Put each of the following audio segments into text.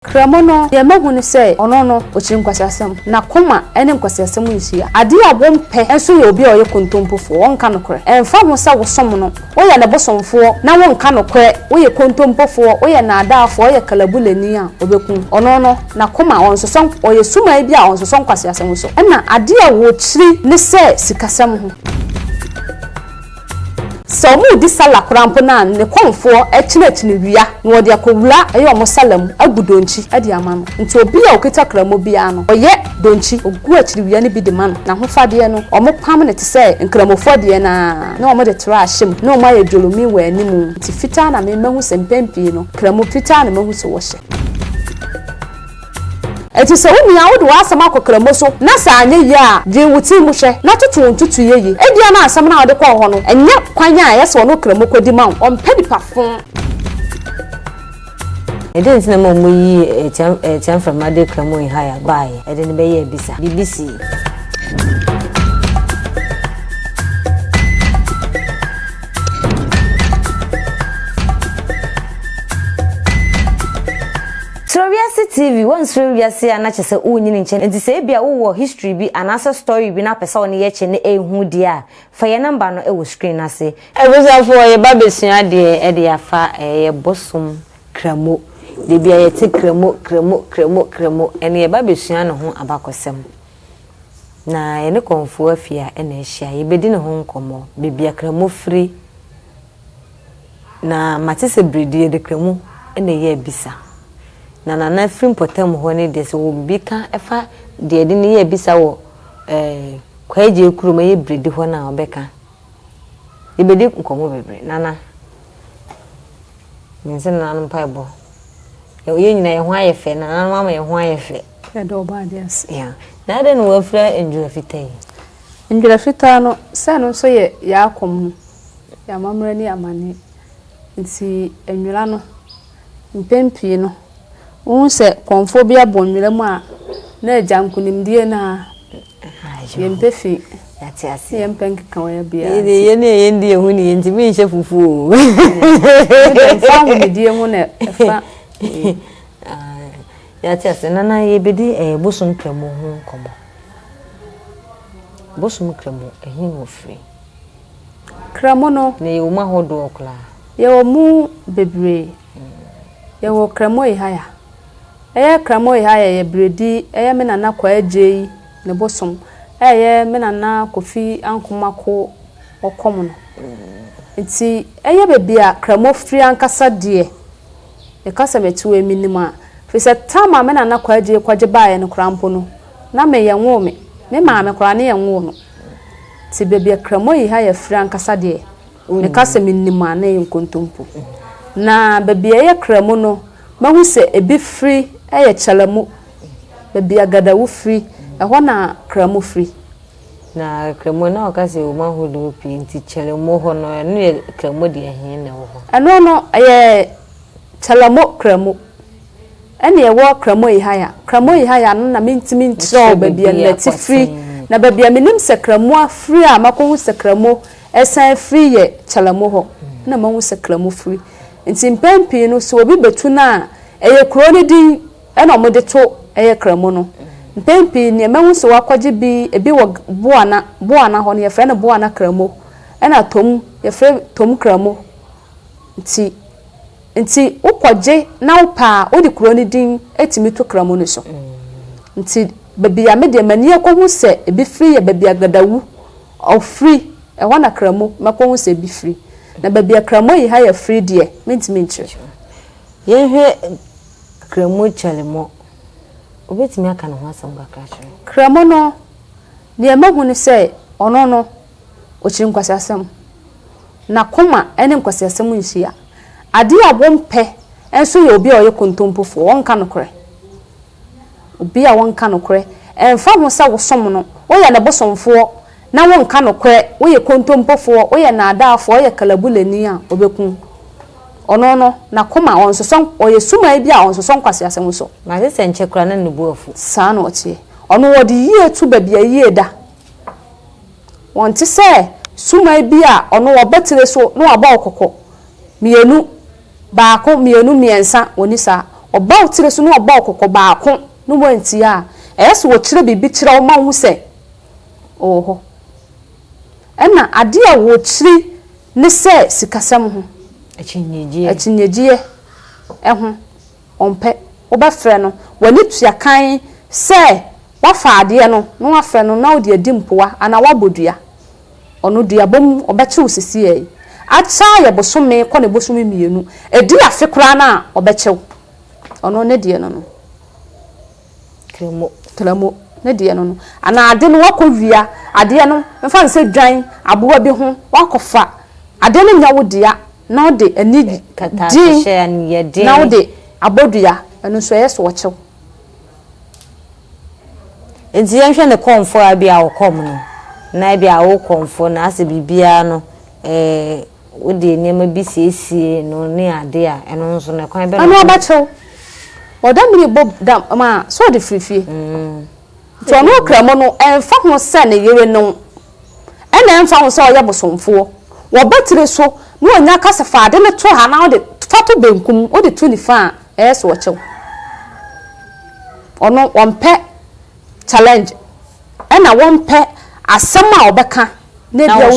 Kramo no, deɛ mahu ne sɛ ɔno no, ɔkyiri nkwaseasɛm. N'akoma ne nkwaseasɛm nhyia. Adeɛ a wɔmpɛ nso yɛ obi a ɔyɛ kontompofoɔ, ɔnka nokorɛ. Ɛmfa ho sɛ wosom no, woyɛ ne bosomfoɔ, na wonka nokorɛ, woyɛ kontompofoɔ, woyɛ nnaadaafoɔ, woyɛ kalabulani a, ɔbɛku wo. Ɔno no, n'akoma, ɔnsosɔ, ɔyɛ sumaa bi a ɔnsosɔ nkwaseasɛm so. Ɛnna adeɛ a wɔkyiri ne sɛ sikasɛm ho. Sɛ ɔmo redi sallah koraa mpo na ne kɔmfoɔ kyinakyini wia na ɔde akɔ wura yɛ ɔmo sallah mu agu donkyi de ama no. Nti obi a ɔkita kramo biara no ɔyɛ donkyi ɔgu akyiri wia no bi de ma no. N'ahofadeɛ no ɔmo pam no te sɛ nkramofoɔ deɛ no ara na ɔmo de tra ahyɛ mu na ɔmo ayɛ dwolomii wɔ anim nti fitaa na me mahu sɛ mpɛn pii no kramo fitaa na mahu sɛ wɔhyɛ. Enti sɛ wo nua wode w'asɛm akɔ Kramoh so na sɛ anyɛ yie a, dwen wo tiri mu hwɛ na toto wo ntutuiɛ yie. Ebia na asɛm no a wode kɔɔ hɔ no nyɛ kwan a ɛyɛ sɛ ɔne Okramoh kɔdi ma wo. Ɔmpɛ nipa fo. Ɛdɛn nti na ma wɔyii Atia Mframa de Kramoh Ihaya baeɛ? Ɛde no bɛyɛ abisa. Biribi sii. Suro wiase TV, Wonsuro wiase a na kyerɛ sɛ wonyin nkyɛ no nti sɛ ebia wowɔ history bi anaasɛ story bi na wopɛ sɛ wo ne yɛ kyɛ na ɛnhu deɛ a, fa yɛn nɔmba no wɔ screen no ase. Abusuafoɔ yɛba bɛsua adeɛ de afa yɛ bosom Kramo. Dabia yɛte Kramo Kramo Kramo Kramo ɛne yɛba bɛsua ne ho abakɔsɛm. Na yɛne Kɔmfoɔ Afia na ahyia. Yɛbɛdi ne ho nkɔmmɔ. Baabi a Kramo firi. Na mate sɛ bere deɛ yɛde kra mu na ɛyɛ abisa. Na Nana afiri mpɔtam hɔ no deɛ sɛ ɔwɔ biribi ka fa deɛ yɛde no yɛ abisa wɔ eh, Kwaagyee kurom ɛyɛ Bredi hɔ no a ɔbɛka. Yɛbɛdi nkɔmmɔ bebree. Nana, mense Nana no mpaebɔ. Yɛn nyinaa yɛn ho ayɛ fɛ, Nana no ama yɛn ho ayɛ fɛ. Yɛda ɔba ade ase. Yeah. Na adɛn na wɔafira ndwira fitaa yi? Ndwira fitaa no, sɛ ɛno nso yɛ yɛn akɔm no. yɛn amammerɛ ne amanneɛ nti nwera no mpɛn pii no wohu sɛ kɔmfoɔ bi abɔ nwera mu a na agya nkonimdie no a yɛmpɛ fi yɛmpɛ nkeka wɔ biara nti yɛne ɛyɛ ndi ɛho ne yɛntumi nhyɛ fufuo mfa ahomedie ho na ɛfa yɛate ase nana yɛbɛdi eh, bosom kramu ho nkɔmmɔ bosom kramu ɛhe na ɔfiri Kramo no. Na yɛwɔ mu ahodoɔ koraa. Yɛwɔ mu bebree. Yɛwɔ Kramo Ehaya. Ɛyɛ Kramo Ehaya yɛ beredi ɛyɛ me Nana Kwaa Adjei ne bosom a ɛyɛ me Nana Kofi Ankomako ɔkɔm no. Nti ɛyɛ baabi a Kramo firi ankasa deɛ meka sɛ mete hɔ yi menim a firi sɛ tam a me Nana Kwaa Adjei kɔgye baeɛ no koraa mpo no na me yɛnwoo me. Me maame koraa ne yɛnwoo no. Te baabi a Kramoa yi ha yɛ frɛ ankasa deɛ, meka sɛ menim a na ɛyɛ nkontompo. Na baabi a ɛyɛ Kramu no, mahu sɛ ebi firi yɛ Kyalamu, baabi a Gadawu firi, ɛhɔ na Kramu firi. Na Kramu na wɔka sɛ wɔn ahodoɔ pii nti Kyalamu hɔ no, ɛno yɛ Kramu deɛ he na ɛwɔ hɔ? Ɛno no, ɛyɛ Kyalamo Kramu. Ɛna ɛwɔ Kramoihaya. Kramoihaya no na mentumi nkyerɛw baabi a nɛte firi. Na baabi a menim sɛ Kramo afiri a makɔhu sɛ Kramo ɛsan afiri yɛ Kyalamo hɔ. Ɛna mahu sɛ Kramo firi. Nti mpɛn pii no sɛ obi bɛtu no a, ɛyɛ kuro no din ɛna wɔde to ɛyɛ Kramo no. Mpɛn pii neɛ mahu sɛ wɔakɔgye bi, ebi wɔ Boana, Boana hɔ no yɛfrɛ no Boana Kramo. Ɛna Tom, yɛfrɛ Tom Kramo nti nti wokɔgye na wopɛ a wode kuro no din tumi to kra mu no so nti baabi a me deɛ m'ani akɔhu sɛ ebi firi yɛ baabi a Gadawu ɔfiri ɛhɔ na Kramu makɔhu sɛ ebi firi na baabi a Kramu Ayihaya firi deɛ mentumi nkyerɛ. Yɛnhwɛ Kramu Kyalemo, wobɛtumi aka ne ho asɛm kakra akyerɛ me? Kramu no deɛ mahu ne sɛ ɔno no. ɔkyiri nkwaseasɛm. N'akoma ne nkwaseasɛm nhyia. Adeɛ a wɔmpɛ nso yɛ obi a ɔyɛ kontompofoɔ, ɔnka nokorɛ. Obi a ɔnka nokorɛ, ɛmfa ho sɛ wosom no, woyɛ ne bosomfoɔ na wonka nokorɛ, woyɛ kontompofoɔ, woyɛ nnaadaafoɔ, woyɛ kalabulani a, ɔbɛku wo. Ɔno no, n'akoma, ɔnsosɔ, ɔyɛ suman bi a ɔnsosɔ nkwaseasɛm so. Na gye sɛ nkyɛ koraa na ne bo afu. Saa na ɔteɛ. Ɔno wɔde yie to baabi a yie da. Wɔnte sɛ suman bi a ɔno ɔba tire so na wabɔ wo kɔkɔ mmienu, baako, mmienu, mmiɛnsa, wɔnni saa. Ɔba wo tire so na ɔbɔ wo kɔkɔ baako na woantie a, ɛyɛ sɛ ɔkyerɛ biribi kyerɛ wo ma wohu sɛ ɔwɔ hɔ. Ɛnna adeɛ a wɔkyiri ne sɛ sikasɛm ho. Akyinnyegyeɛ. Akyinnyegyeɛ ho. Ɔmpɛ. Wobɛfrɛ no, w'ani tua kann sɛ woafa adeɛ no na woafrɛ no na ɔde adi mpoa anaa woabɔ dua. Ɔno, dua bɔ mu, ɔbɛkye wo sesiɛ yi. Akya yɛ bosome kɔ ne bosome mmienu. Ɛdi afe koraa no a, ɔbɛkye wo. Ɔno, ne deɛ no no. Kramu, kramu ne deɛ no no. Anaa ade no woakɔ wia adeɛ no, mfa no sɛ dwan, aboa bi ho, woakɔ fa, adeɛ no nyɛ wo dea na wode ani gye na wode abɔ dua, ɛno nso ɛyɛ sɛ wɔkyɛ wo. Nti yɛnhwɛ ne kɔmfoɔ a ebia ɔkɔm no, na ebia wokɔmfoɔ na asɛ biribiara no ɛɛ. Wode nneɛma bi siesie no ne ade a, ɛno nso no, kwan bɛn na. Ɛno ɔbɛkyɛ wo. Ɔda mini bɔ da ma a, sɛ ɔde firi fie. Nti ɔno ɔkra mu no, ɛmfa ho sɛ ne yere ne wo, ɛna ɛmfa ho sɛ ɔyɛ bosomfoɔ, wɔba tiri so na ɔnya ka sɛ, fa ade no to ha na wode fa to benkum, wode to nifa a, ɛyɛ sɛ ɔkyɛ wo. Ɔno ɔmpɛ challenge. Ɛna wɔmpɛ asɛm a ɔbɛka na ebia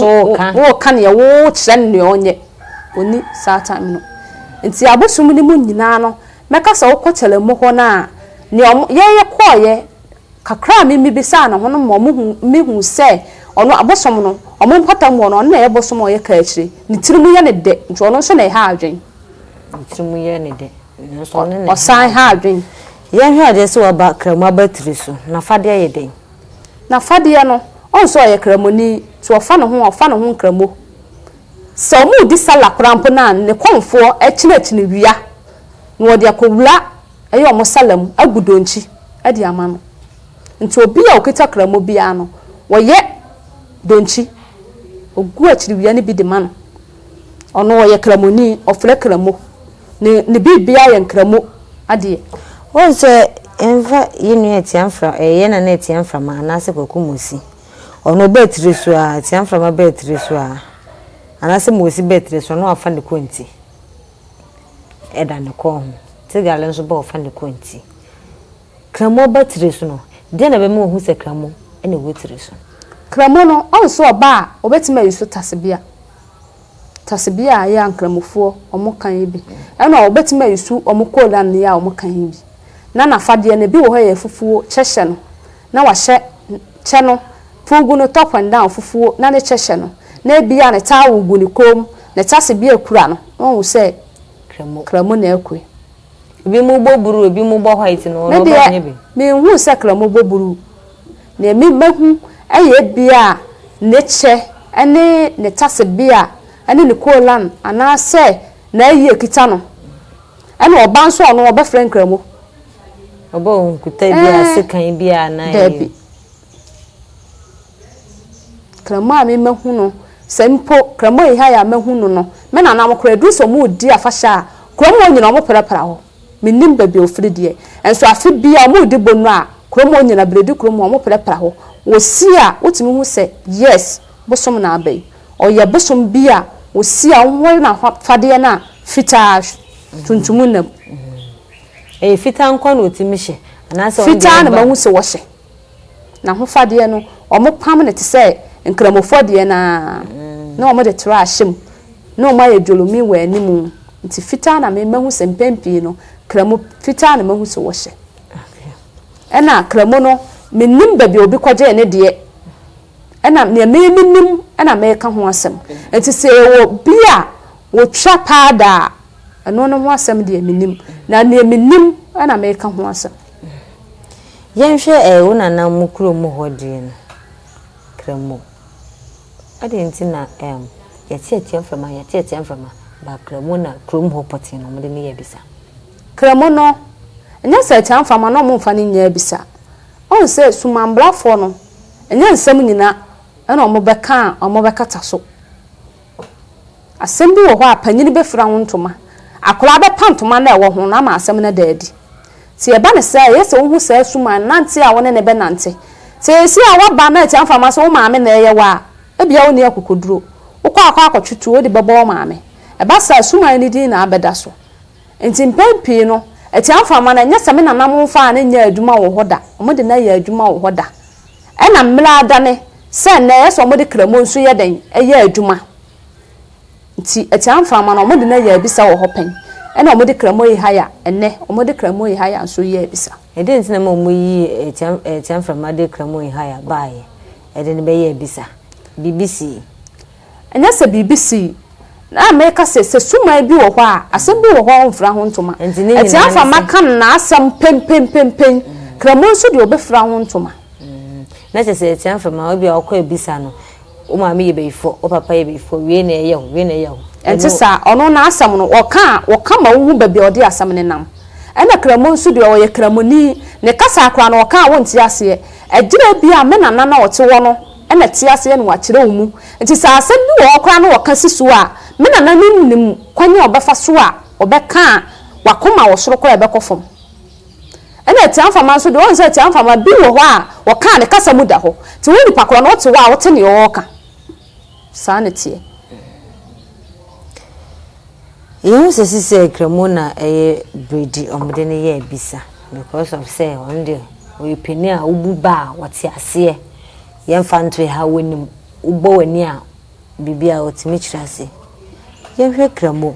woka neɛ wokyerɛ no neɛ ɔnyɛ ɔni saa time no nti abosom no mu nyinaa no mɛka sɛ wokɔ kyɛlɛmu hɔ no a neɛ ɔmo yɛyɛ kɔɔyɛ kakra a mimi bisaa ne ho no ma ɔmo hu mihu sɛ ɔno abosom no ɔmo mpata mu ɔno ɔno na ɛyɛ bosom a ɔyɛ kaakyire ne tiri mu yɛ ne dɛ nti ɔno nso na ɛha adwen ne tiri mu yɛ ne dɛ ɔsan ha adwen Yɛnhwɛ adeɛ sɛ waba Kramu abatiri so, n'afadeɛ yɛ dɛn? N'afadeɛ no, ɔhu sɛ ɔyɛ Kramuni, nti ɔfa ne ho a, ɔfa ne ho Nkramo. Sɛ wɔredi Sallah koraa mpo no a, ne kɔmfoɔ kyinɛkyinɛ wia na wɔde akɔwura ɛyɛ wɔn Sallah mu, agu donkyi de ama no. Nti obi a ɔkita Kramo biara no, wɔyɛ donkyi, wɔgu akyiri wia no bi de ma no, Ɔno ɔyɛ Kramoni, ɔfrɛ Kramo. Ne ne biribiara yɛ Nkramo adeɛ. Wohu sɛ yɛmfa yɛn nua Atia mfra ɛɛ yɛn nana Atia Mframa anaasɛ Kwaku Mosi. Ɔno ɔba akyire so ara, Atia Mframa ba akyire so ara anaasɛ Mosi ba akyire so ara na wafa ne kɔnti da ne kɔn ho. Tigale nso ba ɔfa ne kɔnti. Kramo ba tire so no, deɛn na ɛbɛma wahu sɛ kramo na ɛwɔ tire so? Kramo no, ɔnso ɔba a, wɔbɛtumi ayi so tasebea. Tasebea a yɛ a Nkramofoɔ wɔka yi bi na wɔbɛtumi ayi so wɔn kolan no yɛ a wɔka yi bi. Na n'afadeɛ no, ebi wɔ hɔ a ɛyɛ fufuo, kyɛ hyɛ no, na wahyɛ kyɛ no, puugu no, top and down, fufuo, na ne kyɛ hyɛ no, na ebia ne towel gu ne kɔn mu, ne tasebea kura no, na wahu sɛ kramo na ɛrekɔ yi. Ebi mo bɔ bruu ebi mo bɔ white no ɔno ɔbɔ nye bi. Medeɛ me hu sɛ kra mo bɔ bruu neɛ me ma hu ɛyɛ ebia ne kyɛ ɛne ne tase bea ɛne ne kolan anaa sɛ naayi ɛkita no ɛna ɔba nso ɔno ɔbɛ frɛ nkramo. Ɔbɛ ɔnkuta bia sekan bia anaa yie. Dabi Kramu a me mahu no, sɛ mpo Kramu eha yi a mahu no no, me nananom koraa edu sɛ wɔredi afahyɛ a, kurom hɔ nyina wɔperapera hɔ. Mennim baabi a wɔfiri deɛ, nso afe biara wɔredi Bonu a, kurom hɔ nyina, beredi kurom hɔ a, wɔperapera hɔ. Wɔsi a, wotumi hu sɛ, yes, bosom na aba yi. Ɔyɛ bosom bi a wɔsi a wɔhohoro n'afadeɛ no a fitaa tuntum nnam. Ɛyɛ fitaa nko ara na wɔtumi hyɛ? Anaasɛ wɔn deɛ ɛba. Fitaa na mahu sɛ wɔhyɛ. N'ahofadeɛ no, wɔpam no te sɛ Nkramofoɔ deɛ no ara, na wɔde tra ahyɛ mu, na wɔayɛ dwolomi wɔ anim, nti fitaa na me mahu sɛ mpɛn pii no Kramo fitaa na mahu sɛ wɔhyɛ. Ɛna Kramo no, mennim baabi a obi kɔgyee ne deɛ, ɛna deɛ me menim na meka ho asɛm, nti sɛ ɛwɔ bi a wɔtwa paada a, ɛno no ho asɛm deɛ mennim, na deɛ mennim na meka ho asɛm. Yɛnhwɛ ɛɛ wo nana mo kurom hɔ deɛ no, Kramo. Adɛn nti na ɛɛm yɛte atua mframa yɛte atua mframa ba Kramo na kurom hɔ pɔtee na wɔde no yɛ abisa? Kramo no, ɛnyɛ sɛ atua mframa na wɔmfa no nyɛ abisa. Woahu sɛ sumanbrafoɔ no, ɛnyɛ nsɛm nyina na wɔbɛka a wɔbɛkata so. Asɛm bi wɔ hɔ a, panyin befura wo ntoma, akwadaa bɛpa ntoma no a ɛwɔ ho no ama asɛm no ada adi. Sɛ yɛba no saa a, eye sɛ wuhu saa suman nante a wo ne no bɛnante. Sɛ ɛyɛ sie a woaba na atua mframa sɛ wo maame na ɛreyɛ wo a, ebia wunni akokoduru. Wokɔ akɔ akɔtwe tuo de bɛbɔ wo maame. Ɛba saa a, suman no din na abɛda so. Enti mpɛn pii no, atua mframa no, ɛnyɛ sɛ me nananom mfaa no nyɛɛ adwuma wɔ hɔ da, wɔde no ayɛ adwuma wɔ hɔ da. ɛna mmerɛ ada ne sɛ nnɛ ɛyɛ sɛ wɔde kramo nso yɛ dɛn? yɛ adwuma. Nti atia mframa no wɔde no ayɛ abisa wɔ hɔ pɛn ɛna wɔde kramo yi haya nnɛ wɔde kramo yi haya nso yɛ abisa. Ɛdeɛn nti na ɛma wɔyi atia atia mframa de kramo yi haya baeɛ de no bɛyɛ abisa? Biribi sii. Ɛnyɛ sɛ biribi sii. Ná meka sɛ, sɛ suman bi wɔ hɔ a, asɛm bi wɔ hɔ a ɔmfra ho ntoma. Atiafa ma ka n'asɛm penpenpenpen. Kramoa nso deɛ, ɔbɛfira ho ntoma. Na kyerɛ sɛ, Atiafa ma ebia ɔkɔ abisa no, wo maame yɛ bayifoɔ, wo papa yɛ bayifoɔ, wei na ɛyɛ wo, wei na ɛyɛ wo. Ɛnte saa. Ɔno n'asɛm no, ɔka a, ɔka ma wohu baabi a ɔde asɛm no nam. Ɛnna Kramoa nso deɛ, ɔyɛ Kramoni. Ne kasa koraa no, ɔka a wonte aseɛ. Agyina bi a me nana no a ɔte hɔ no, na te aseɛ na wakyerɛ wo mu. Nti sɛ asɛm bi wɔ hɔ koraa na wɔka si so a, me nananom nim kwan a wɔbɛfa so a wɔbɛka a w'akoma wɔ soro koraa a ɛbɛkɔ fam. Ɛna Atiamfama nso deɛ, woahu sɛ Atiamfama bi wɔ hɔ a wɔka a ne kasa mu da hɔ. Nti wo nipa korɔ no wote hɔ a wote deɛ ɔɔka. Saa na ɛteɛ. Yehu sɛ sisɛɛ Kramu na ɛyɛ bredi ɔmo de no yɛ abisa because of sɛ ɔno deɛ ɔyɛ panin a wobu ba a ɔte aseɛ yɛnfa nto ɛha wonim wobɔ w'ani a biribi a ɔtumi kyerɛ ase yɛnhwɛ Kramu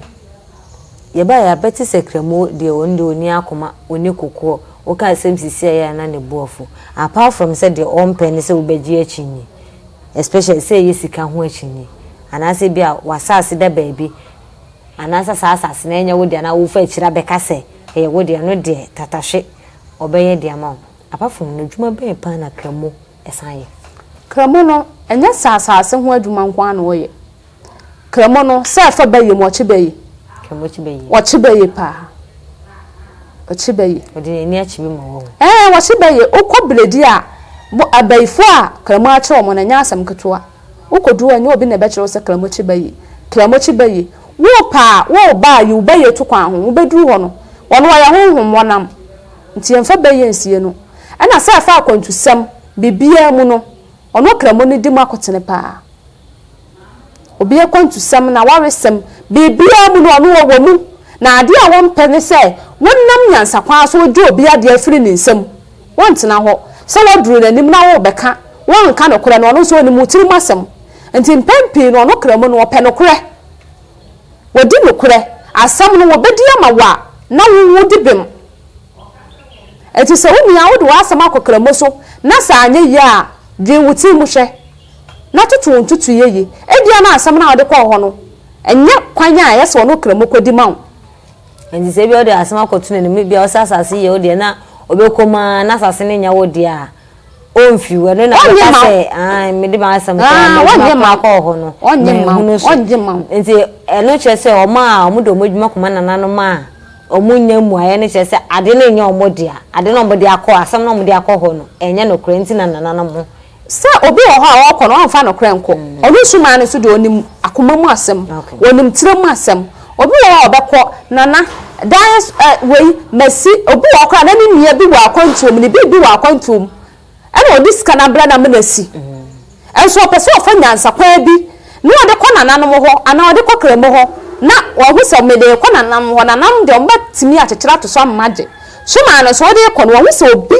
yɛbaeɛ a bɛte sɛ Kramu deɛ ɔno deɛ ɔni akoma ɔni kokoɔ woka asɛm sisi a ɛyɛ a na ne bo afu apart from sɛ deɛ ɔmpɛ ne sɛ wobɛgye akyinnye especially sɛ ɛyɛ sika ho akyinnye anaasɛ bi a w'asaase da baabi anaasɛ saa asaase no ɛnyɛ wo dea na wofa akyire abɛka sɛ ɛyɛ wo dea no deɛ tatahwe ɔbɛyɛ de ama wo. Apart from no adwuma bɛn paa na Kramu san yɛ? Kramu no ɛnyɛ sɛ asaase ho adwuma nko ara na ɔyɛ. Kremo no sɛ ɛfa bɛ yɛ mu ɔkye bɛ yɛ. Kremo kye bɛ yɛ. Ɔkye bɛ yɛ paa. Ɔkye bɛ yɛ. Ɔde n'ani akye bi ma wɔn. Ɛɛ ɔkye bɛ yɛ okɔ biledi a abayifoɔ a kremo akye wɔn no ɛnyɛ asɛm ketewa. Wokɔdu hɔ ɛnyɛ obi na ɛbɛkyerɛ wo sɛ kremo kye bɛ yɛ. Kremo kye bɛ yɛ. Worepɛ a woreba a yi wo bɛ yɛ to kwan ho. Wobɛduru hɔ no wɔn wɔyɛ honhom wɔnam nti yɛmfa bɛ yɛ nsie no. Ɛna sɛ ɛfa akwantusɛm biribiara mu no ɔno kremo no di mu akotene paa. Obi akwantusɛm n'awaresɛm, biribiara mu no ɔno ɔwɔ mu, na adeɛ a wɔmpɛ ne sɛ wonam nyansakwan so wogye obi adeɛ afiri ne nsam. Wontena hɔ, sɛ woaduru n'anim na worebɛka, woanka nokorɛ no, ɔno nso ɔnim wo tirim asɛm. Nti mpɛn pii no ɔno kra mu no ɔpɛ nokorɛ. Wadi nokorɛ asɛm no wɔbɛdi ama wo a na wo wodi bem. Nti sɛ wo nua wode w'asɛm akɔ kramoso na sɛ anyɛ yie a dwen wo tirim hwɛ. na toto wo ntutuiɛ yie. Ebia na asɛm no a wode kɔɔ hɔ no, ɛnyɛ kwan a ɛyɛ sɛ ɔne Ɔkramofoɔ kɔdi ma wo. Enti sɛ ebia wode asɛm akɔto n'anim, ebia ɔsɛ asase yɛ wo deɛ na ɔbɛkɔ mu ara na asase no nyɛ wo deɛ a, ɔmfi wo. Ɛno na bɛka sɛ, aane, mede m'asɛm kɔɔ hɔ, mede m'akoma kɔɔ hɔ no, manhunu so. Enti ɛno kyerɛ sɛ wɔn a wɔde wɔn adwuma kɔma nananom a wɔnnya mmuaeɛ no kyerɛ sɛ adeɛ no nyɛ wɔn dea. Adeɛ no a wɔde akɔ, asɛm no a wɔde akɔ hɔ no, ɛnyɛ nokorɛ nti na nananom ho Sɛ obi wɔ hɔ a ɔɔkɔ no ɔmfa nokorɛ nkɔ, ɔno sumaa no so deɛ ɔnim akoma mu asɛm, ɔnim tire mu asɛm. Obi wɔ hɔ a ɔbɛkɔ, Nana, dan ɛ, wei, masi, obi wɔ hɔ koraa a na ne nua bi wɔ akwantuo mu, ne biribi wɔ akwantuo mu, ɛna ɔde sika no abrɛ no ama no asi. Nso ɔpɛ sɛ ɔfa nyansakwan bi na ɔde kɔ nananom hɔ, anaa ɔde kɔ kramo hɔ, na wahu sɛ mede rekɔ nananom hɔ, nananom deɛ wɔbɛtumi akyekyere ato so ama magye. Sumaa no so wode rekɔ no, wahu sɛ obi.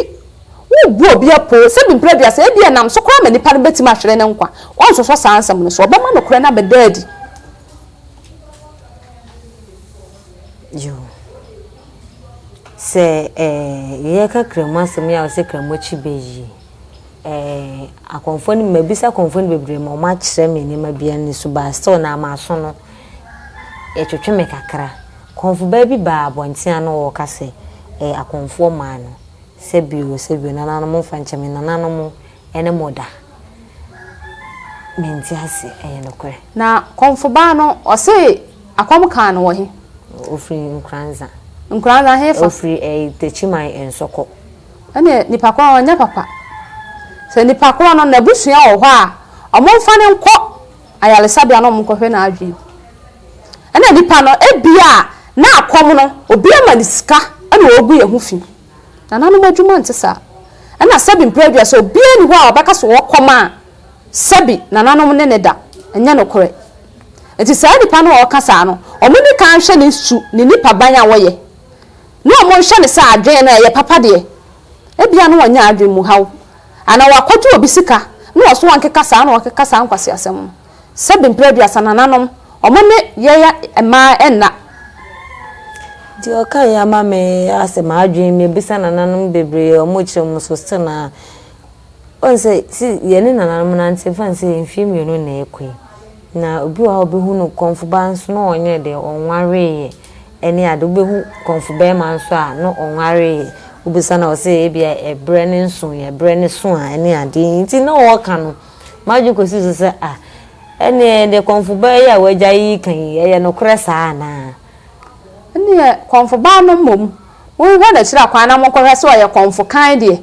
Wobu obi apoo sɛ bmpere aduasa, ebia ɛnam so koraa ma nipa no betumi ahwere ne nkwa. Wɔnsosɔ saa nsɛm no so. Wɔbɛma nokorɛ no abɛda adi. Yoo. Sɛ eh, yɛka Kramu asɛm yi a wɔsɛ Kramu akyi bɛ yi, eh, akɔmfoɔ no, mabisa akɔmfoɔ no bebree ma wɔakyerɛ me nneɛma bi ani so, but still na m'aso no, ɛtwetwe me kakra. Kɔmfobaa bi baa abɔnten ano, ɔreka sɛ, eh, akɔmfoɔ maa no. Sɛbio, sɛbio, nananom mfa nkyɛ me, nananom ɛne mo da? Mente ase, ɛyɛ nokorɛ. Na kɔmfobaa no, ɔse akɔm kaa no wɔ he? Ɔfiri Nkoranza. Nkoranza hefa? Ɔfiri ɛɛ Takyiman Nsɔkɔ. Ɛneɛ nipa korɔ ɔnyɛ papa. Sɛ nipa korɔ no n'abusua wɔ hɔ a, wɔmfa no nkɔ. ayaresabea na wɔkɔhwɛ n'adwene. Ɛna nipa no ebia n'akɔm no obi ama no sika ɛna ɔregu yɛn ho fi. Nananom adwuma nte saa. Ɛna sɛbi mprɛ du a sɛ obiara nni hɔ a ɔbɛka sɛ ɔkɔm a sɛbi nananom ne no da. Ɛnyɛ nokorɛ. Nti saa nipa no a ɔreka saa no wɔn nni kan nhwɛ ne su, ne nipaban a ɔyɛ na wɔn nhyɛ no sɛ adwene no ɛyɛ papa deɛ. Ebia na wanya adwene mu haw, anaa wakɔgye obi sika na ɔso wankeka saa na ɔkeka saa nkwaseasɛm no. Sɛbe mpere aduasa nananom, wɔn ne yɛɛ mmaa nna. Deɛ ɔka yi ama me asɛ m'adwene mu abisa nananom bebree a wɔkyerɛ mu so still na wohu sɛ si yɛne nananom nante mfa ne sɛ mfeɛ mmienu na ɛrekɔ yi na obi wɔ hɔ a ɔbɛhunu kɔmfoba nso na ɔnyɛɛ dɛn ɔnwareeɛ Ɛne ade, wobɛhu kɔmfo barima nso a na ɔnwaree, wobisa no a ɔse ebia ɛberɛ no nso yɛ berɛ no so a ɛne ade, nti na ɔɔka no, m'adwene kɔsii so sɛ ah, ɛneɛ deɛ kɔmfo baa yi a w'agya yi reka yi, ɛyɛ nokorɛ saa anaa? Ɛneɛ kɔmfo baa no mmom, monhwɛ no akyiri akwan na monkɔhwɛ sɛ ɔyɛ kɔmfo kann deɛ,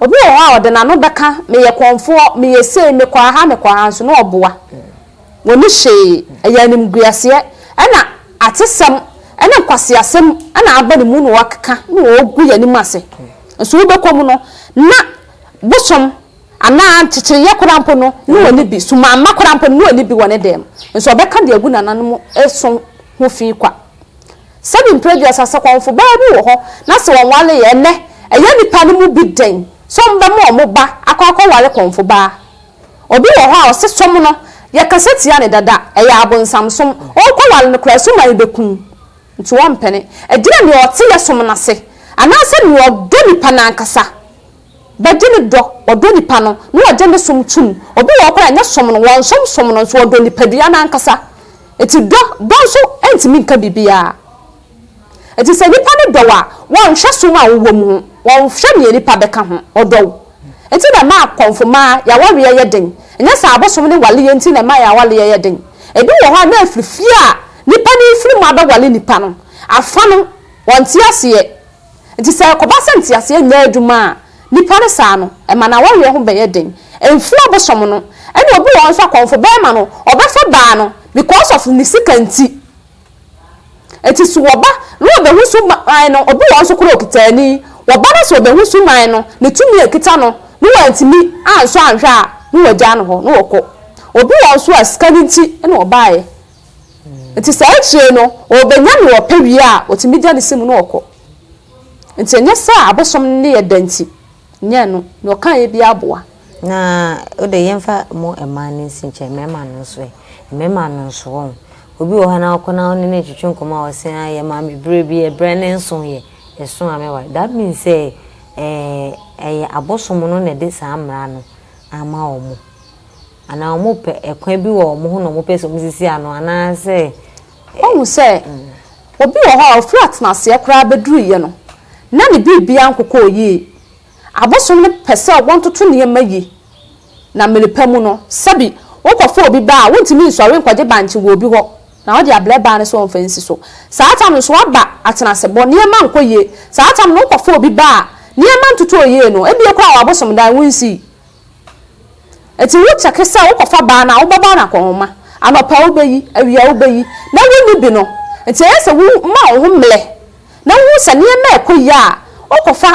obi wɔ hɔ a ɔde n'ano bɛka, meyɛ kɔmfoɔ, meyɛ sei, mekɔ aha, mekɔ aha, nso na ɔboa. Wɔnni hwee, ɛyɛ animguaseɛ, ɛna atesɛm, ɛne nkwaseasɛm na aba ne mu na wɔkeka na wɔgu yɛn anim ase. Nso wobɛkɔ mu no, na bosom anaa nkyekyereeɛ koraa mpo no, na wɔnni bi, sumaama koraa mpo no, na wɔnni bi wɔ ne dan mu. Nso wɔbɛka deɛ agu nananom so ho fi kwa. Sɛbi mprɛ aduasa sɛ kɔmfo baa bi wɔ hɔ na sɛ wɔnwareeɛ, ɛnnɛ ɛyɛ nnipa no mu bi den sɛ wɔbɛma wɔn ba akɔ akɔware kɔmfo baa. Obi wɔ hɔ a ɔse som no yɛkasa tia no dada, ɛyɛ abonsam som, ɔɔkɔware no koraa suman yi bɛku no nti ɔmpene. Ɛgyina nea ɔte yɛ som no ase anaasɛ nea ɔdɔ nipa no ankasa bɛgye ne dɔ, ɔdɔ nipa no na ɔgye ne som tom. Obi wɔ hɔ koraa a ɛnyɛ som no wɔnsom som no nso ɔdɔ nipadua no ankasa nti dɔ dɔ nso ntumi nka biribiara. Enti sɛ nnipa no dɔ wo a, wɔnhwɛ som a wowom ho, wɔnhwɛ nea nnipa bɛka ho, wɔdɔ wo. Enti na ɛma akɔmfo mmaa yɛn awareɛ yɛ den. Ɛnyɛ sɛ abosom ne waleɛ nti na ɛma yɛn awareɛ yɛ den. Ebi wɔ hɔ a, na ɛfiri fie a nnipa no refiri mu abɛware nnipa no, afa no, wɔnte aseɛ. Enti sɛ ɛkɔba sɛ nteaseɛ nyɛ adwuma a, nnipa no saa no, ɛma no awareɛ ho bɛyɛ den. Ɛmfiri abosom no. Ɛna obi wɔ hɔ nso akɔmfo bɛrima no, ɔbɛfa baa no because of ne sika nti. Enti so wɔba na wɔbehu so man no, obi wɔ hɔ nso koraa a okita ani, wɔba na sɛ wɔbehu so man no, ne tumi a ekita no, na wɔantumi ansɔ anhwɛ a, na wɔagyaa no hɔ na wɔkɔ. Obi wɔ hɔ nso a sika no nti na ɔbaeɛ. Enti saa akyire no, ɔrebenya nea ɔpɛ wie a, otumi gya ne si mu na ɔkɔ. Enti ɛnyɛ sɛ abosom no ne yɛ dɛ nti. Nyɛ no, nea ɔkaeɛ biara boa. Na wo deɛ yɛmfa mo mmaa no nsi nkyɛn, mmarima no nso ɛ? Mmarima no nso, wɔn. Obi wɔ hɔ anaa wokɔ na wo ne no retwetwe nkɔmmɔ a ɔse ah yɛ maa me berɛ bi, ɛberɛ no nso yɛ, ɛso a mɛware. That means sɛ ɛɛ ɛyɛ abosom no na ɛde saa mmara no ama wɔn. Anaa wɔpɛ ɛkwan bi wɔ wɔn ho na wɔpɛ sɛ wɔsisi ano anaa sɛ. Woahu sɛ Obi wɔ hɔ a ɔfiri atenaseɛ koraa bɛduruiɛ no, na ne biribiara nkokɔɔ yie. Abosom no pɛ sɛ wɔtoto nneɛma yi, na mmere pa mu no, sɛbi wokɔfa obi ba a, wontumi nsɔre nkɔgye bankye wɔ obi hɔ na ɔde abrɛ baa no sɛ ɔmfa nsi so. Saa tam no so aba atenasebɔ, nneɛma nkɔ yie. Saa tam no wokɔfa obi ba a, nneɛma ntotɔɔ yie no, ebia koraa wɔ abosomdan, wonsii. Ntsi wo kyɛke sɛ wokɔfa baa no a, wo bɛba no akɔnhoma, anɔpa wobeyi, ewia wobeyi, na wunni bi no. Ntsi ɛyɛ sɛ wo ma woho mblɛ na wohu sɛ neɛma ɛkɔ yie a, wokɔfa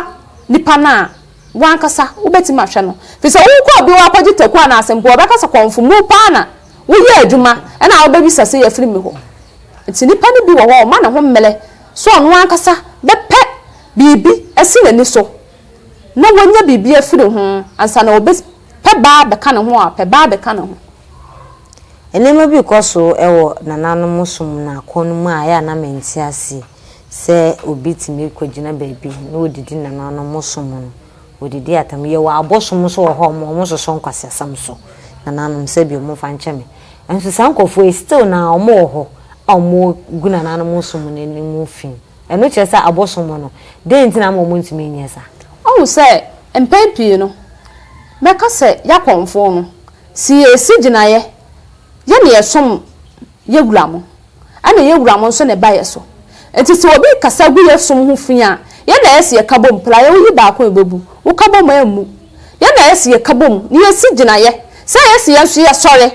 nipa no a wankasa wobɛtumi ahwɛ no. Firi sɛ wo kɔɔ bi hɔ akɔgye taku anaa asempo a, ɔbɛka sɛ kɔnfo mu paa na wo yɛ adwuma ɛna a wobɛbisa sɛ yɛfiri me hɔ. Ntsi nipa no bi wɔ hɔ a ɔma ne ho mblɛ sɛ ɔno ankasa bɛpɛ biribi asi n'ani so. na wanya biribi afiri ho ansa na wɔbɛ pɛ baa bɛka ne ho a, pɛ baa bɛka ne ho. Nneɛma bi rekɔ so wɔ nananom som no akɔn no mu a ɛyɛ a na mente aseɛ sɛ obi tumi kɔgyina baabi na ɔdidi nananom som no, ɔdidi atam. Yɛwɔ abosom nso wɔ hɔ a wɔn wɔsosɔ nkwaseasɛm so nananom sɛ bi wɔmfa nkyɛ me. Nanso saa nkurɔfoɔ yi still no ara wɔwɔ hɔ a wɔgu nananom som no anim fi. Ɛno kyerɛ sɛ abosom mo no. Dɛn nti na ama wɔntumi nyɛ saa? Woahu sɛ mpɛn pii no, mɛka sɛ Yakonfoɔ no, se yɛresi gyinaeɛ, yɛ na yɛsom yɛ wura mo, ɛna yɛ wura mo nso na ɛba yɛ so. Enti sɛ obi rekasa gu yɛ som ho fi a, yɛ na yɛse yɛka bom, praeɛ woyi baako a ɛbɛbu, woka bom a ɛmmu. Yɛ na yɛse yɛka bom na yɛsi gyinaeɛ sɛ yɛse yɛn nso yɛsɔre,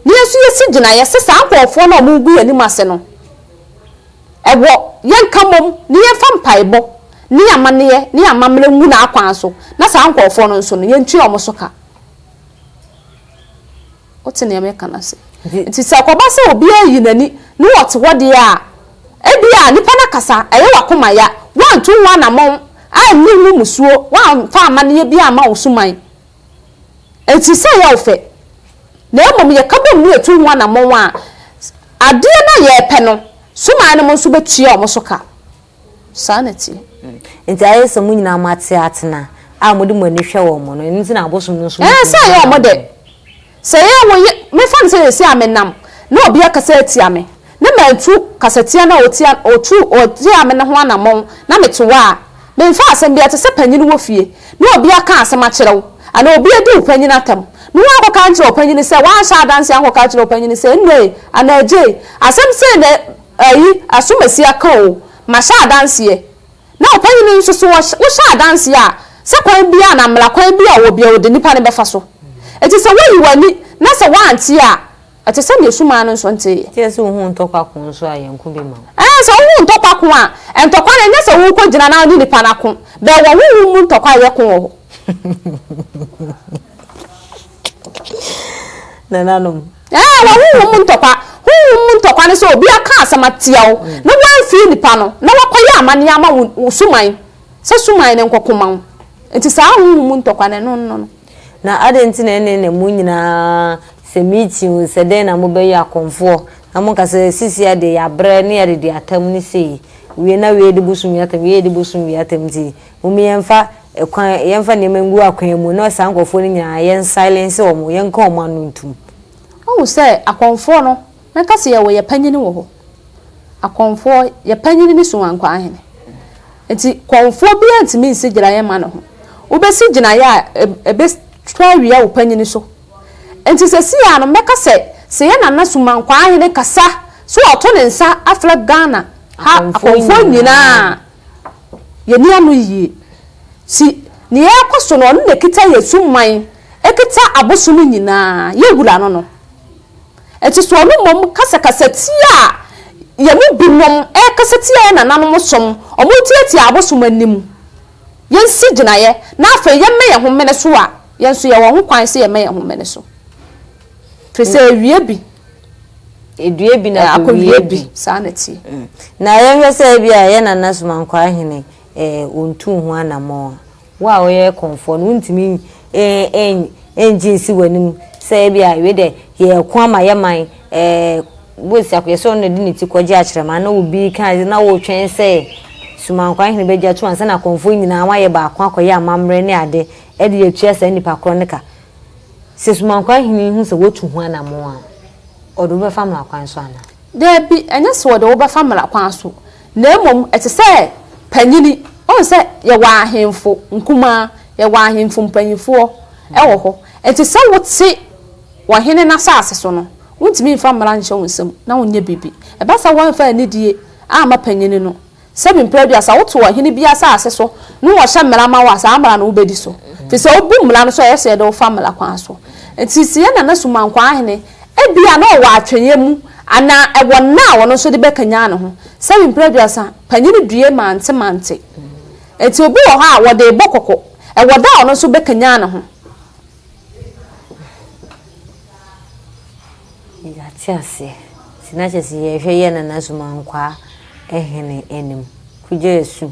na yɛn nso yɛsi gyinaeɛ sɛ saa nkorɔfoɔ no a wɔregu yɛn anim ase no, Ɛwɔ, yɛnka mmom, ne yɛmfa mpaebɔ, ne amanneɛ, ne amammerɛ ngu n'akwan so, na saa nkorɔfoɔ no nso no, yɛntua wɔn so ka. Wote deɛ meka no ase? Nti sɛ ɛkɔba sɛ obiara reyi n'ani, ne wɔte hɔ deɛ a, ebia nnipa no akasa, ɛyɛ w'akoma ya, woantu ho anamɔn, anni ho mmusuo, woamfa amanneɛ biara amma wo suman, Enti sɛ yɛwo fɛ, na mmom yɛka bom na yɛtu ho anammɔn a, adeɛ no a yɛrepɛ no, suman nom nso bɛtua wɔn so ka. Saa na ɛteɛ. Enti ayɛ sɛ mo nyinaa moate atena a mode mo ani hwɛ wɔn no, ɛno nti na abosom no nso mu tumi dɔ wɔn. Ɛɛ, sɛ ɛyɛ wɔn dɛ. Sɛ yɛ wo ye Mefa no sɛ seesei a menam na obi akasa atia me na mantu kasatia no a otia otu otiaa me no ho anammɔn na mete hɔ a memfa asɛm biara te sɛ panyin wɔ fie na obi aka asɛm akyerɛ wo anaa obi adi wo panyin atɛm na woankɔka ankyerɛ wo panyin sɛ woanhyɛ adanse ankɔka akyerɛ wo panyin sɛ Nnae anaa Gyei asɛm sei na ayi asom asi aka oo mahyɛ adanseɛ Na ɔpanyin no nso, so wohyɛ adanse a, sɛ kwan biara anaa mmara kwan biara a ɔwɔ biara, ɔde nnipa no bɛfa so? Enti sɛ woyi w'ani na sɛ woante a, ɛte sɛ nea ɔsumaa no nso nteeɛ. Gye sɛ wohu ntɔkwa ko nso a, yɛn ko bɛma wo. Ɛɛ, sɛ wohu ntɔkwa ko a, ntɔkwa no, ɛnyɛ sɛ worekɔgyina na wo ne nnipa no ako, bɛwɔ honhom mu ntɔkwa a ɛyɛ ko wɔ hɔ. Nananom. Ɛɛ wɔ honhom mu ntɔkwa. Honhom mu ntɔkwa ne sɛ obi aka asɛm atia wo mm. na woamfie nipa no na wakɔyɛ amanneɛ ama wo suman sɛ suman no nkɔko ma wo. Nti saa honhom mu ntɔkwa no ɛno no no. Na adɛn nti na ɛne na mu nyinaa sɛ meeting o sɛ dɛn na mobɛyɛ akɔmfoɔ na monka sɛ sisi adeɛ yɛabrɛ ne yɛde di atam ne sei wie na wie de bosom wie atam wie de bosom wie atam nti Mom yɛnfa kwan yɛnfa nneɛma ngu akwan mu na saa nkorɔfoɔ no nyinaa yɛn silence wɔn yɛnka wɔn ano ntum. Wohu sɛ akɔmfoɔ no mɛka sɛ yɛwɔ yɛ panyini wɔ hɔ akɔmfoɔ yɛ panyini ne Suwankwaa hene nti kɔmfoɔ biara ntumi nsi gyinaeɛ mma ne ho wobɛsi gyinaeɛ a ɛbɛtwa awia wo panyini so nti sɛsii ara no mɛka sɛ sɛ yɛ Nana Sumankwaa hene kasa sɛ ɔto ne nsa afrɛ Ghana ha akɔmfoɔ nyinaa yɛn ani ano yie. Si nea ɛrekɔ so no, ɔno na ɛkita yɛn su man, ɛkita aboso no nyinaa, yɛn wura no no. Ɛte so ɔno mmom kasakasa tia a yɛn mu binom ɛrekasa tia yɛn nananom som, wɔretiatia abosom anim. Yɛnsi gyinaeɛ na afei yɛmmɛ yɛn ho mmene so a, yɛn nso yɛwɔ ho kwan sɛ yɛmmɛ yɛn ho mmene so. Firi sɛ ɛwie bi. Ɛdue bi na akɔwie bi. Saa na tie. Mm. Na yɛnhwɛ sɛ ebi a yɛ nana somankwaa hene ɔntu ho anammɔn a wo a woyɛ kɔnfoɔ no wontumi ɛngye nsi w'anim sɛ ebi a wei dɛ yɛko ama yɛ man bosi akɔyɛ sɛ ɔno na ɛde ne ti kɔgye akyerɛma na obi ka na wotwɛn sɛ somankwaa hene bɛgya to ansa na kɔnfoɔ nyinaa wayɛ baako akɔyɛ amammerɛ ne ade ɛde atua saa nipa korɔ no ka Sɛ Sumankwa Hene hu sɛ woatu ho anammɔn a, ɔde wo bɛfa mmara kwan so anaa? Dabi, ɛnyɛ sɛ ɔde wo bɛfa mmara kwan so, na mmom ɛte sɛ panyin. Woahu sɛ yɛwɔ ahemfo nkumaa, yɛwɔ ahemfo mpanimfoɔ wɔ hɔ. Enti sɛ wote ɔhene no asase so no, wontumi mfa mmara nhyɛ wo nsam na wonyɛ biribi. Ɛba saa a, woamfa anidie amma panyin no. Sɛ bi mprɛ bi a, sɛ woto ɔhene bi asase so ne ɔhyɛ mmara ma wo a, saa mmara no wobɛdi so. Firi sɛ wobu mmara no so a, ɛyɛ sɛ yɛde wo fa mmara kwan so. Nti sɛ yɛn nana Sumankwaa Ahene, ebi a na ɔwɔ atweneɛ mu anaa ɛwɔ nna a ɔno nso de bɛkanyan ne ho. Sɛ bi mprɛ bi a, sa panyini due mante mante. Nti obi wɔ hɔ a, wɔde rebɔ kɔkɔ. Ɛwɔ da a ɔno nso bɛkanyan ne ho. Yɛate aseɛ. Nti na kyerɛ sɛ yɛhwɛ yɛ Nana Sumankwaa hene anim. Kugyai Su,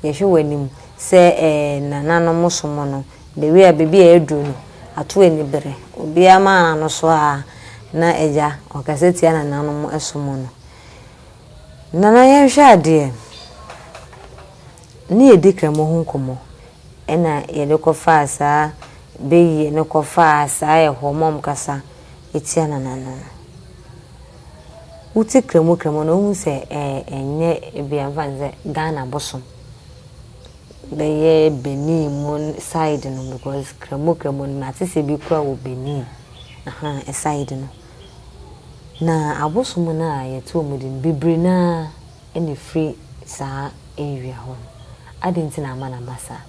yɛhwɛ w'anim sɛ eh, nananom som no, the way a baabi a aduru no, ato ani bere. Obiara ma ano so ara na agya ɔkasa tia nananom som no. Nana yɛnhwɛ adeɛ, ne yɛdi Kramoh ho nkɔmmɔ. na yɛde kɔfaa saa bayie no kɔfaa saa ɛhɔ ma wɔkasa tia Nana no no, wote kramo kramo no wohu sɛ ɛnyɛ ebi a mfa no sɛ Ghana bosom bɛyɛ Benin mu side no because kramo kramo no mate sɛ ebi koraa wɔ Benin ahaa side no. Na abosom no a yɛto wɔn din Bibiri no ara na ɛfiri saa area hɔ no. Adɛn nti na ama no aba saa?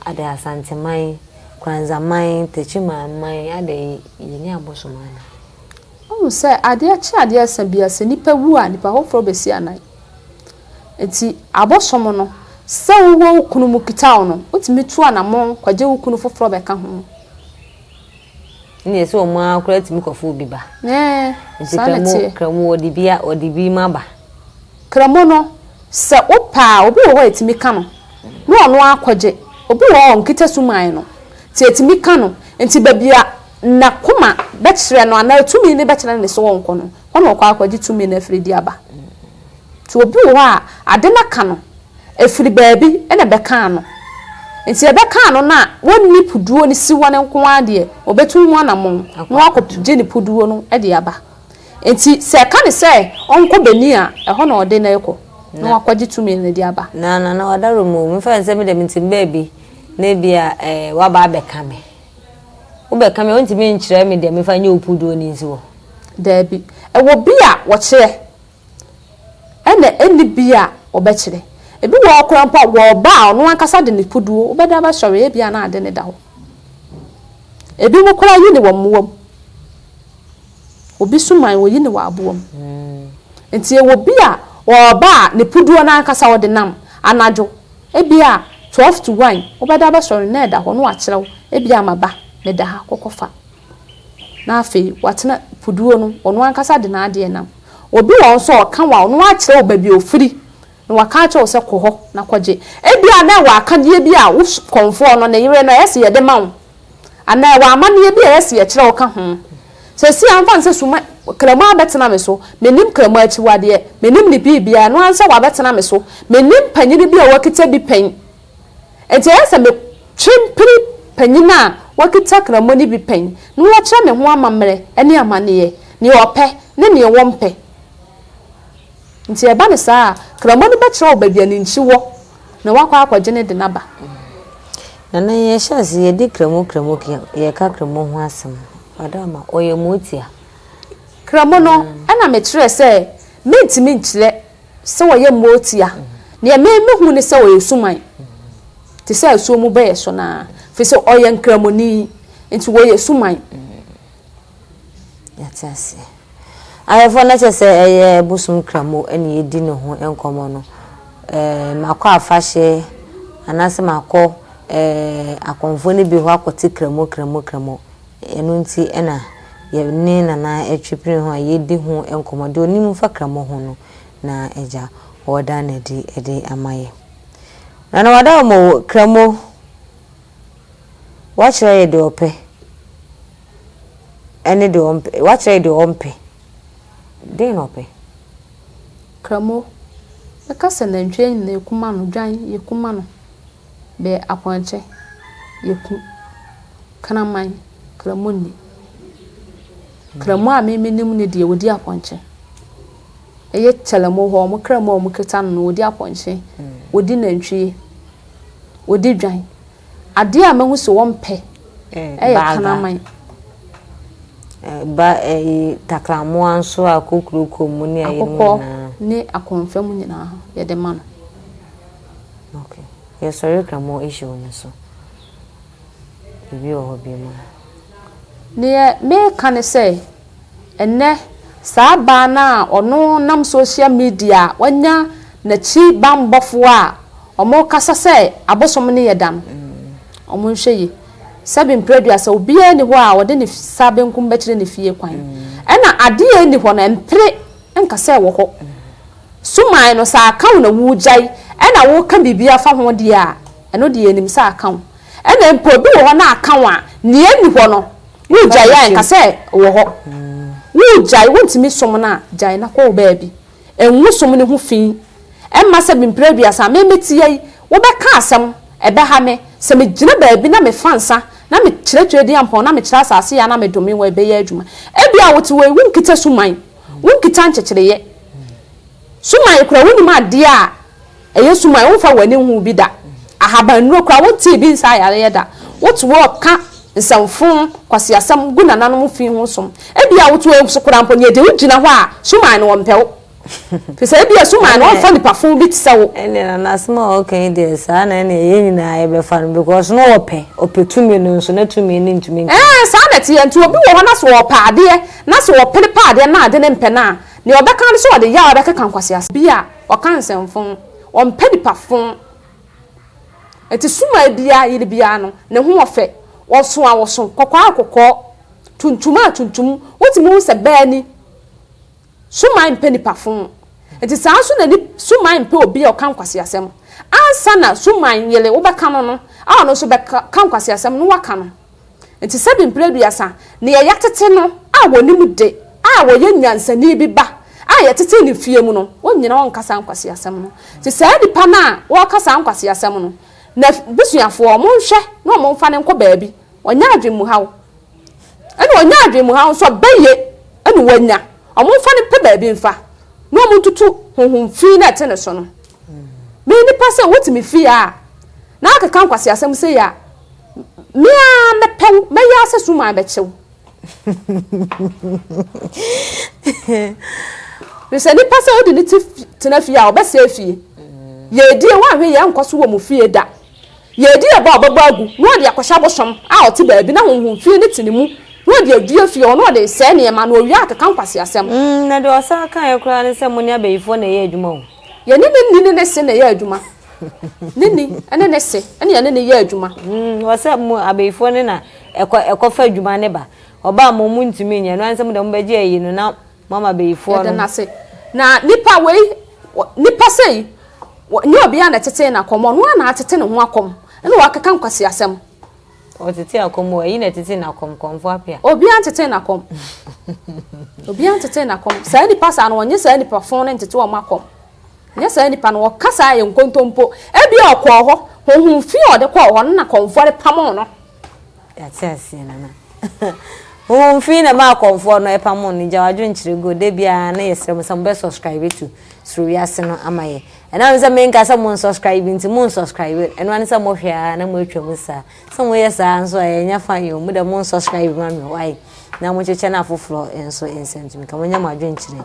Adɛn Asanteman, Kranzaman, Techiman man, adɛn yɛnni abosom anaa? Wohu sɛ adeɛ kye adeɛ sa biara, sɛ nipa wu a, nipa foforɔ bɛsi anan. Nti abosom no, sɛ wowɔ wo kunu mu kita wo no, wotumi tu anamɔn kɔgye wo kunu foforɔ bɛka ho. ɛne ɛsɛ wɔn ara koraa tumi kɔfo obi ba nti kramo kramo wɔde bi wɔde bi ma ba kramo no sɛ wopɛ a obi wɔ hɔ a ɛtumi ka no na ɔno akɔgye obi wɔ hɔ a ɔnkita suman no nti ɛtumi ka no nti baabi a n'akoma bɛkyerɛ no anaa tumi no bɛkyerɛ ne so ɔnkɔ no hɔ na ɔkɔ akɔgye tumi no afiri de aba Nti obi wɔ hɔ a ade no aka no ɛfiri baabi na bɛka ano. Nti ɛbɛka ano no a wɔnni puduo no si hɔ no nko ara deɛ ɔbɛtu ho anamɔn na wakɔgye ne puduo no de aba. Nti sɛ ɛka no sɛ ɔnkɔ Benin a, ɛhɔ na ɔde no rekɔ na wakɔgye tumi no de aba. Na Nana Ɔdaro mo, memfa nsɛ me deɛ me tim baabi na ebia eh, waba abɛka me. Wobɛka me a wontumi nkyerɛ me deɛ memfa nyɛ wo puduo no nsi hɔ. Daabi. Ɛwɔ bi a wɔkyerɛ. ɛna ɛnni bi a wɔbɛkyerɛ. Ebi wɔ hɔ koraa mpo a, wɔ ɔba a ɔno ankasa de ne koduo bɛda bɛsɔre a ebia na ade no da hɔ. Ebinom koraa yi no wɔ mmoa mu. Obi suman, wɔyi no wɔ aboa mu. Nti ɛwɔ bi a, wɔ ɔba a ne koduo no ankasa ɔde nam anadwo, ebia twelve to one wobɛda bɛsɔre na ɛda hɔ na wɔakyerɛ wo ebia ama ba meda ha kɔ kɔfa. Na afei watena puduo no, ɔno ankasa de n'adeɛ nam. Obi wɔ hɔ nso a ɔka wo a, ɔno akyerɛ wo baabi a ɔfiri, na waka akyerɛ wo sɛ kɔ hɔ na kɔgye. Ebia na ɛwɔ akadeɛ bi a wo kɔmfoɔ no, ne yere no, ɛyɛ sɛ yɛde ma wo. Anaa ɛwɔ amanneɛ bi a ɛyɛ sɛ yɛkyerɛ wo ka ho. Seesei ara mfa no sɛ suma, Kramu abɛtena me so. Mennim Kramu akyiwadeɛ. Mennim ne biribiara. Ɛno ara ne sɛ wabɛtena me so. Mennim panin bi a wakita bi pɛn. Enti ɛyɛ sɛ metwe mpene panyin a wakita Kramoh no bi pɛn na wakyerɛ me ho amammerɛ ne amanneɛ, nea ɔpɛ ne nea ɔmpɛ. Enti ɛba no saa a, Kramoh no bɛkyerɛ wo baabi a ne nkyi wɔ na woakɔ akɔgye ne de no aba. Nana, yɛhyɛ ase, yɛdi Kramoh Kramoh kea, yɛka Kramoh ho asɛm. Ɔdɔama, ɔyɛ motia. Kramoh no na mekyerɛ sɛ mentumi nkyerɛ sɛ wɔyɛ mmoa otia. Deɛ me mehu ne sɛ ɔyɛ suman te sɛ asuo mu bɛyɛ so no ara firi sɛ ɔyɛ nkramoni nti wɔyɛ suman. Yɛte aseɛ. Ayɛfoɔ no kyɛ sɛ ɛyɛ bosom kramo ɛne yɛdi ne ho nkɔmmɔ no. Eh, makɔ afahye anaasɛ makɔ eh, akɔmfoɔ no bi hɔ akɔte kramo kramo kramo. Ɛno nti na yɛne Nana Atwepire ho a yɛdi ho nkɔmmɔ, deɛ ɔnim fa Kramo ho no na agya ɔreda no adi de ama yɛn. Nana wada hɔ ma o, Kramo, wakyerɛ yɛn deɛ ɔpɛ ɛne deɛ ɔmpɛ, wakyerɛ yɛn deɛ ɔmpɛ, den na ɔpɛ? Kramo, Yɛka sɛ nantwie nyinaa ɛkum ano, dwan, yɛkum ano. bɛyɛ apɔnkye, yɛku, kraman, kramu nni. Kramu a me menim ne deɛ wɔdi apɔnkye. Ɛyɛ kyɛlɛmu hɔ, wɔn kramu a wɔkita no no, wɔdi apɔnkye, mm. wɔdi nantwie, wɔdi dwan. Adeɛ a mahu sɛ wɔmpɛ eh, ɛyɛ kraman. Eh, ba eh, takramoa nso a kokuroko mu ne ayɛ mu nyinaa. ne akɔnfam nyinaa yɛde ma no. Okay yɛsɔre ka more issue no so biribi wɔ hɔ biom a. Deɛ meka ne sɛ ɛnɛ saa baa no a ɔno nam social media a wanya nakyi banbɔfoɔ a wɔkasa sɛ abosom no yɛ da no wɔn nhwɛ yie sɛbi mprɛduasa obiara ni hɔ a wɔde ne sa benkum bɛkyerɛ ne fie kwan ɛna adeɛ ɛni hɔ no ɛmpere nka sɛ ɛwɔ hɔ. Suman no, sɛ aka wo na woregyae na woreka biribi afa ho deɛ a, ɛno deɛ yɛnim sɛ aka wo. Ɛna mpo ebi wɔ hɔ na aka wo a, nea ɛnni hɔ no, woregyae a nka sɛ ɛwɔ hɔ. Woregyae, wontumi som no a, gyae na kɔ wo baabi. Ngu som no ho fi. Mma sɛ mprɛ aduasa a memete ha yi, wobɛka asɛm, ɛbɛha me. Sɛ megyina baabi na mefa nsa na mekyerɛkyerɛ Diampɔn na mekyerɛ asase yɛ a na medome wo a, ɛbɛyɛ adwuma. Ebia wote hɔ yi, wonkita suman. Wonkita nkyekyereeɛ. Suman koraa wonnim adeɛ a ɛyɛ suman, womfa w'ani nhuu bi da. Ahabannuro koraa wontee bi nsaa yareɛ da. Wote wɔreka nsɛmfoo, nkwaseasɛm gu nananom fi ho som. Ebia wote wɔn so koraa mpo na yɛde wo gyina hɔ a, suman no wɔmpɛ wo. Ɛfiri sɛ ebia suman no wɔmfa nipa fo bi te sɛ wo. Ɛnneɛ nana asɛm a ɔreka yi deɛ saa na ɛnneɛ yɛn nyinaa yɛbɛfa no because na ɔpɛ, ɔpɛ tumi no nso na tumi no ntumi nka ho. Ɛɛ saa na ɛteɛ nti obi wɔ hɔ na sɛ ɔpɛ adeɛ Na sɛ ɔpene pɛ adeɛ na ade no mpɛ no a, deɛ ɔbɛka ara ne sɛ ɔde yaw bɛkeka nkwaseasɛm. Bi a, ɔka nsɛmfõ. Ɔmpɛ nipa fõ. Enti sumaa biara yere biara no, ne ho wɔ fɛ. Ɔsõ a ɔsõ, kɔkɔɔ a kɔkɔɔ, tuntum a tuntum. Wotumi hu sɛ bɛ ani. Sumaa mpɛ nipa fõ. Enti saa ara nso na ni, sumaa mpɛ obi a ɔka nkwaseasɛm. Ansa na sumaa yere wobɛka no no, a ɔno nso bɛka, ka nkwaseasɛm na woaka no. Enti sɛbi mpere aduasa, nea yɛatete no a wɔnim de a ɔyɛ nyansani bi ba a yɛtetee no fie mu no, ɔnnyina hɔ nka saa nkwaseasɛm no. Enti saa nipa no a ɔreka saa nkwaseasɛm no, n'abusuafoɔ, wɔnhwɛ na wɔmfa no nkɔ baabi, ɔnyɛ adwenmuhaw. Ɛna ɔnya adwenmuhaw nso a, bɛyɛ na wanya. Wɔmfa no mpɛ baabi mfa, na wɔntutu honhom fi no a ɛte ne so no. Me nipa sɛ wotumi fie a, na akeka nkwaseasɛm sei a, Me ara mɛpɛ wo, mɛyɛ ara sɛ suman bɛkyɛ wo. Sɛ nipa sɛ odi ne ti tena fie a ɔbɛsɛe fie. Yɛredie woanhwɛ yɛn nkɔ so wɔ mo fie da. Yɛredi aba a ɔbɛbɔ agu na ɔde akɔhyɛ abosom a ɔte baabi na honhom fie no te ne mu na ɔde adua fie hɔ na ɔde resɛe nneɛma na ɔwie a ɔkeka nkwaseasɛm. Mm, na deɛ ɔsan kaeɛ koraa ne sɛ mo ne abayifoɔ na ɛyɛ adwuma o. Yɛne ne nni ne ne se na ɛyɛ adwuma. ne ni ne ne se ne yɛne ne yɛ adwuma. Mm, wɔ sɛ mo abeyifoɔ ne na ɛkɔ ɛkɔfa adwuma ne ba ɔbaa mo mo ntumi nyɛ no ansɛ mo dɛ mo bɛgye ayi no na mo ama abeyifoɔ no. Yɛde no ase na nipa wei nipa sei nyɛ obiara na ɛtete na kɔm ɔno ara na atete ne ho akɔm ɛna wakeka nkwasi asɛm. Ɔtete akɔm o ɛyi na ɛtete na kɔm kɔmfo apia. Obiara ntete na kɔm obiara ntete na kɔm saa nipa saa no wɔnyɛ saa nipa fon ne ntete wɔn akɔm. Ɛnyɛ saa nipa no, ɔka saa yɛ nkontompo. Ebia ɔkɔɔ hɔ, honhom fi a ɔde kɔɔ hɔ no na kɔmfoɔ de pamoo no. Yɛate aseɛ nana. Honhom fi na ɛmaa kɔmfoɔ no pamoo no. Gya w'adwenkyerɛ go. Da biara na yɛsrɛ mo sɛ mobɛ subscribe to Suro Wiase no ama yɛ. Ɛnam sɛ menka sɛ mo nsubscribe nti, mo nsubscribe. Ɛno ara ne sɛ mohwɛ ara na moatwa mu saa. Sɛ moyɛ saa nso a, ɛnyɛ fine o. Mo deɛ mo nsubscribe ma me why? Na monkyekyɛ no afoforɔ nso nsɛntumi ka. Monyɛ mo adwenkyerɛ.